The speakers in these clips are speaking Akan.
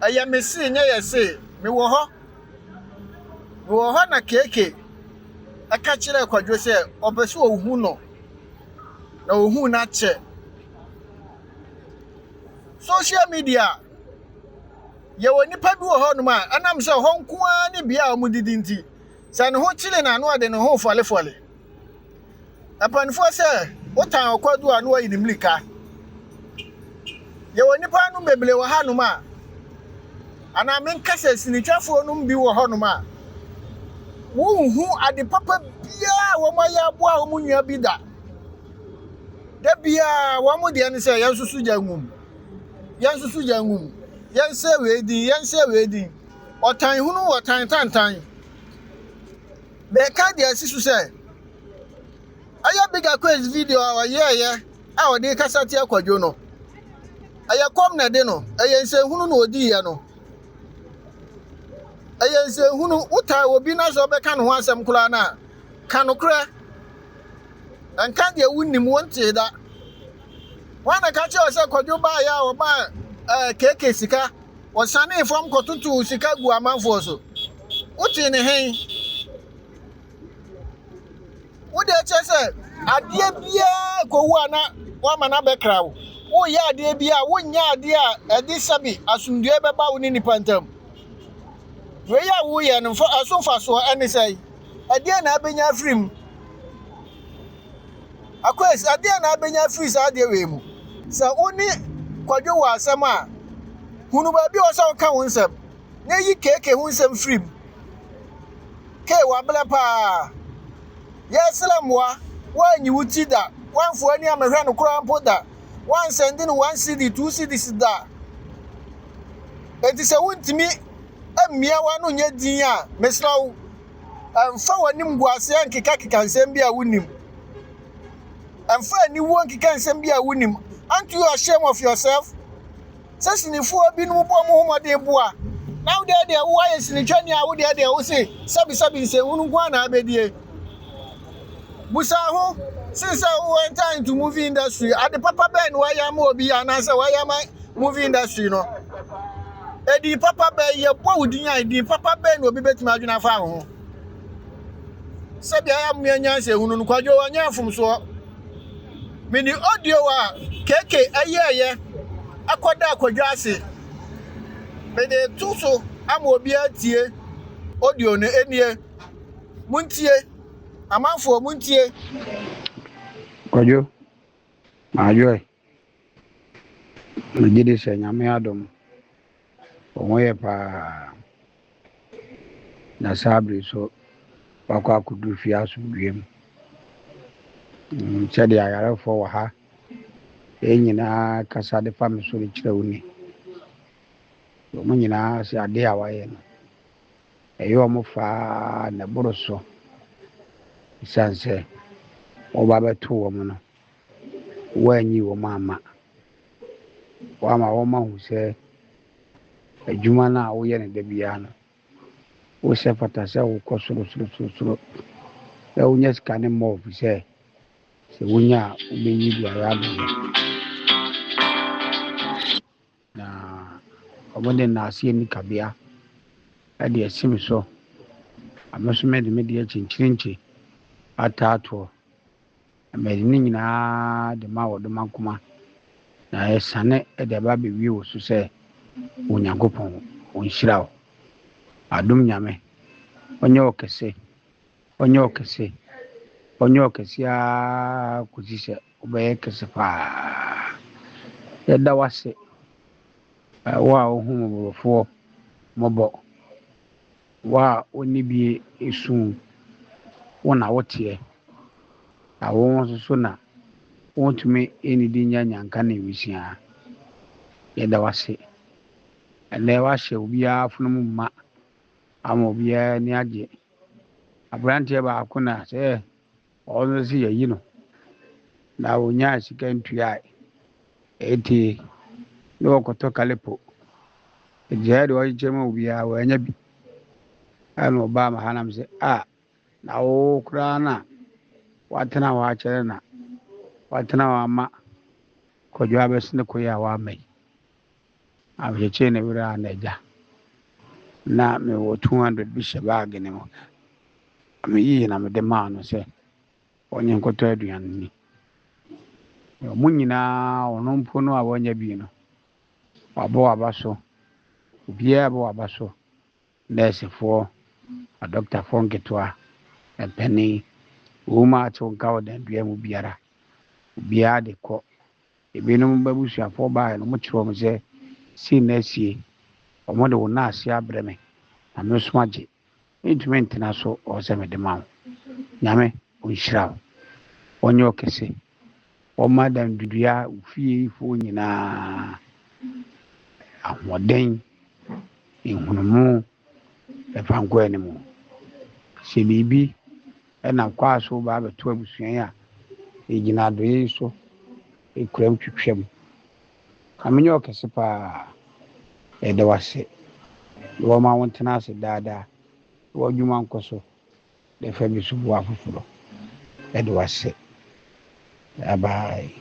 Ɛyɛ me see nyɛ yɛ see, me wɔ hɔ, me wɔ hɔ na Keekee ɛka kyerɛɛ Kwadwo sɛ ɔpɛ sɛ ɔhu no na ɔhu no akyɛ. Social media, yɛwɔ nnipa bi wɔ hɔnom a ɛnam sɛ hɔ nko ara ne bea a wɔdidi nti, sɛ ne ho kyere no a na ɔde ne ho refɔlefɔle. Mpanimfoɔ sɛ wotan ɔkwadu a na wayi ne mirika. Yɛwɔ nnipa nom bebree wɔ hanom a, anaa menka sɛ sinitwafoɔ nom bi wɔ hɔnom a, wonhu ade papa biara a wɔayɛ aboa wɔn nua bi da. Da biara wɔn deɛ ne sɛ yɛnsusu gya ngu mu, yɛnsusu gya ngu mu, yɛnsɛ wei din, yɛnsɛ wei din. Ɔtan hunu, ɔtan tantan. Mereka deɛ asi so sɛ, ɛyɛ Bigger Quays video a ɔyɛeɛ a ɔde rekasa tia Kwadwo no. Ɛyɛ kɔm na ɛde no, ɛyɛ nsɛnhunu na ɔdiiɛ no. Ɛyɛ nsɛnhunu, wotaa obi na sɛ ɔbɛka ne ho asɛm koraa no a, ka nokorɛ. Nka deɛ wonnim, wontee da. Wɔn na ka kyerɛ wo sɛ Kwadwo baeɛ a ɔmaa ɛɛ keke sika, ɔsanee fam kɔtotoo sika gu amanfoɔ so. Wotee ne he? Wode kyerɛ sɛ adeɛ biara kɔwu a na woama no abɛkra wo. Woyɛ adeɛ bi a wonyɛ adeɛ a ɛde sɛbe asomdwoeɛ bɛba wo ne nnipa ntam. Wei a woyɛ no ɛso mfasoɔ ɛne sɛe? Ɛdeɛ na abɛnya afiri mu? Akwes, ɛdeɛ na abɛnya afiri saa adeɛ wei mu? Sɛ wo ne kwadwo wɔ asɛm a, hunu baabi a ɔsɛ woka wo nsɛm. na yi KK ho nsɛm firi mu. K, wabrɛ paa. Yɛresrɛ mmoa. Woanyi wo ti da. Woamfa w'ani ammɛhwɛ no koraa mpo da. Woansɛnde no one cedi, two cedis da. Enti sɛ wontumi mmia w'ano nyɛ din a, mesrɛ wo, mfa w'animguaseɛ nkekakeka nsɛm bi a wonim. Mfa aniwuo nkeka nsɛm bi a wonim. Aren't you ashamed of yourself? sɛ sinifoɔ binom bɔ wɔn ho mmɔden boa, na wo deɛ deɛ woayɛ sinitwani a wo deɛ deɛ wo se sɛbisɛbi nsɛnhunu nko ara na abɛdie. Busa ho sen sɛ wo enter into movie industry, ade papa bɛn na woayɛ ama obi anaasɛ woayɛ ama movie industry no. Edin papa bɛn, yɛbɔ wo din a, edin papa bɛn na obi bɛtumi adwene afa ho. sɛ bia yɛamoa nyansa ehunu no kwadwo ɔnyɛ mfomsoɔ mede audio a keke ɛyɛɛyɛ ɛkɔda kwadwo ase mede to so ama obiara tie audio no ɛnie montie amanfoɔ montie kwadwo maadwoɛ Megye di sɛ Nyame adom, wɔn ho yɛ paa. Na saa bere yi nso, wɔakɔ akɔdu fie asomdwoeɛ mu. Mm, sɛdeɛ ayarefoɔ wɔ ha, yɛn nyinaa kasa de fa me so de kyerɛ wo ni. Wɔn nyinaa sɛ adeɛ a wɔayɛ no, ɛyɛ wɔn faa na ɛboro so. Ɛsiane sɛ wɔba bɛto wɔn no, Woannyi wɔn amma. Woama wɔahu sɛ adwuma no a woyɛ no da biara no, wo sɛ fata sɛ wokɔ sorosorosoro na wonya sika no mmɔ wo sɛ sɛ wonya a wobɛyi biara abɛyɛ. Na wɔde nnaase ani kabea de asi me so, na me nso mede me deɛ akyinkyirinkyi ata atoɔ. Na mede ne nyinaa de ma wɔ doma nkoma, na ɛsane de aba abɛwie wo so sɛ Onyankopɔn ɔnhyira wo. Adom Nyame, ɔnyɛ wo kɛse Ɔnyɛ ɔkɛse. Ɔnyɛ ɔkɛse ara kɔsi sɛ ɔbɛyɛ kɛse paa. Yɛda wo ase, wo a wohu mmɔborɔfoɔ mmɔbɔ, wo a wonni bie esu, wo na woteɛ, na wo nso so na wontumi nnidi nyɛ nyanka ne nwisiaa. Yɛda wo ase. Ɛnnɛ woahyɛ obiara afono mu ma ama obiara ani agye Aberanteɛ baako na sɛ ɔno sɛ yɛyi no na ɔnyaa sika ntuae ɛti na ɔkɔtɔ kalepo ɛgyaɛ deɛ ɔkyekyɛ ma obiara wɔanya bi ɛna ɔbaa ma ha nam sɛ a na wo koraa na watena hɔ akyɛrɛ na watena hɔ ama kɔdwo abɛsene koyɛ a wama yi Na mekyekyee ne werɛ a n'agya. Ná mewɔ two hundred bi hyɛ baage no mu. Meyii na mede maa no sɛ ɔnyɛ nkɔtɔ aduan nni. Wɔn nyinaa, ɔno mpo no a wanya bi no, wabɔ waba so. Obiara bɔ waba so, nɛɛsefoɔ, adɔktafoɔ nketewa, mpanin, wɔn mu a atew nka wɔ dan biara mu biara. Obiara de kɔ Ebinom b'abusuafoɔ baaɛ na wɔkyerɛɛ wɔn sɛ, Sei na asie, wɔde wo naase abrɛ me, na me nso agye. Mentumi ntena so ɔɔ sɛ mede ma wo. Nyame Ɔnhyira wo, Ɔnyɛ wo kɛse, Ɔmma Dandudeɛ fie foɔ nyinaa ahoɔden, nhunumu, mfa nkɔ anim. Hyɛ biribi. Ɛnam kwan a so woba abɛto abusua yi a yegyina adɔeɛ yi so kura mu twitwa mu. Ka menyɛ wo kɛse paa. Yɛda wo ase. Na wɔma wo ntena ase daa daa. Na w'adwuma nkɔ so na fa bi so boa afoforɔ. Yɛda wo ase. Bye bye.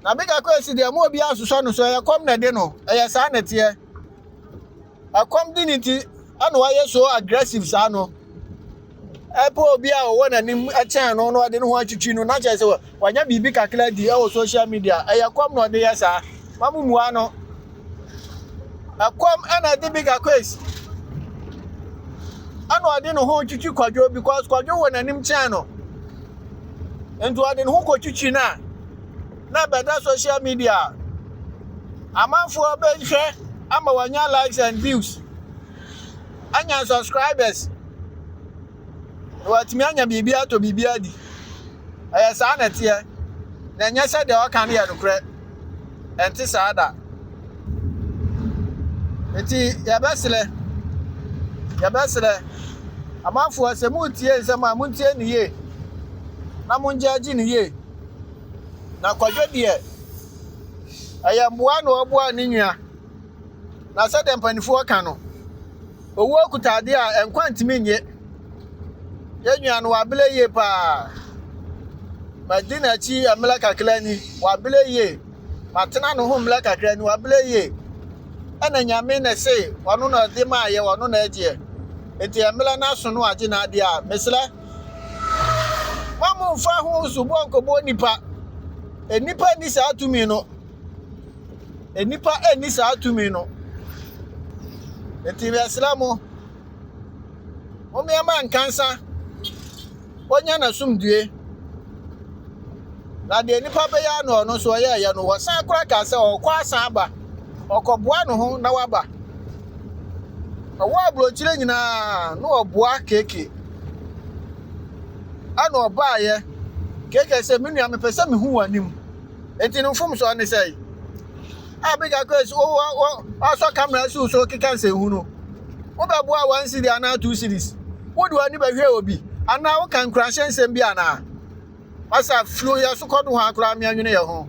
Na bigya kɔ esi deɛ mo obiara nsosɔ no so ɛyɛ kɔm na ɛde no ɛyɛ saa na ɛteɛ ɛkɔm di ne ti ɛna wayɛ so aggressive saa no ɛpɛ obi a ɔwɔ n'anim ɛkyɛn no na ɔde ne ho atwitwi no na kyerɛ sɛ wanya biribi kakra di ɛwɔ social media ɛyɛ kɔm na ɔde yɛ saa ma mo mua no Ɛkɔm na ɛde Bigger Quays ɛna ɔde ne ho twitwi kwadwo because kwadwo wɔ n'anim kyɛn no nti ɔde ne ho kɔtwitwi no a na bɛda social media amanfoɔ bɛhwɛ ama wanya likes and views anya subscribers na watumi anya biribi atɔ biribi adi. Ɛyɛ saa na ɛteɛ, na ɛnyɛ sɛ deɛ ɔka no yɛ nokorɛ. Ɛnte saa da. Enti yɛbɛsrɛ, yɛbɛsrɛ amanfoɔ sɛ moretie nsɛm a montie no yie na mongyaagye no yie. Na kwadwo deɛ, ɛyɛ mmoa na ɔboa ne nua. Na sɛdeɛ mpanimfoɔ ka no, Owuo kuta adeɛ a nkwa ntumi nye. Yɛn nua no wabele yie paa. Madi n'akyi mmerɛ kakra ni, wabele yie. Matena ne ho mmerɛ kakra ni, wabele yie. Ɛna nyame na ɛse ɔno na ɔde maa yɛ, ɔno na ɛgyeɛ. Nti mmerɛ no aso no agye n'adeɛ a, mesrɛ mo a momfa ho soboɔ nkɔbɔ nipa. Nipa nni saa tumi no. Nnipa nni saa tumi no. Enti yɛsrɛ mo, mommeɛma nkansa ɔnya n'asomdue. Na deɛ nnipa bɛyɛ ano ɔno nso ɔyɛɛyɛ no, wɔsan kora kaa sɛ ɔkɔ asan aba, ɔkɔboa ne ho na waba. Ɔwɔ aburokyire nyinaa na ɔboa keke. Ɛna ɔbaeɛ, keke sɛ me nua mepɛ sɛ mehu w'anim. Enti no mfomso a ne sɛe. A big akɔ esi wo wo asɔ camera si wo so keka nsɛnhu no. Wobɛboa one city anaa two cities. Wode w'ani bɛhwɛ obi anaa woka nkuranhyɛ nsɛm bi anaa. Ɔsa firi yɛ so kɔdo hɔ akora meanwene yɛ ho.